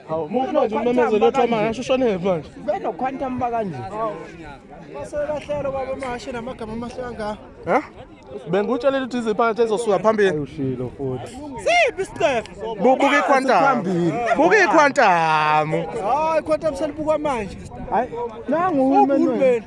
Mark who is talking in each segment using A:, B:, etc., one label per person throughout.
A: Hawu muku manje umemezelo othi amanga ashushane manje. Beno quantum
B: bakanje. Basebahlelo baba amahashi namagama amahle kangaka. Ha?
A: Bengikutshelile ukuthi iziphakathi ezosuka phambili. Ayushilo futhi.
B: Siphi isicefe?
A: Bubuka iquantum. Buka iquantum. Hayi quantum
B: selibukwa manje. Hayi nangu uhulumeni.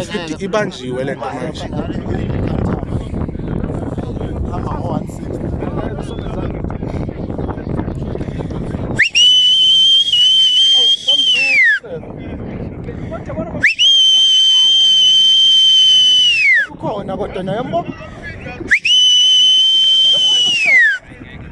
A: ifidi ibanjiwe le nto manje
B: ukhona kodwa naye mbo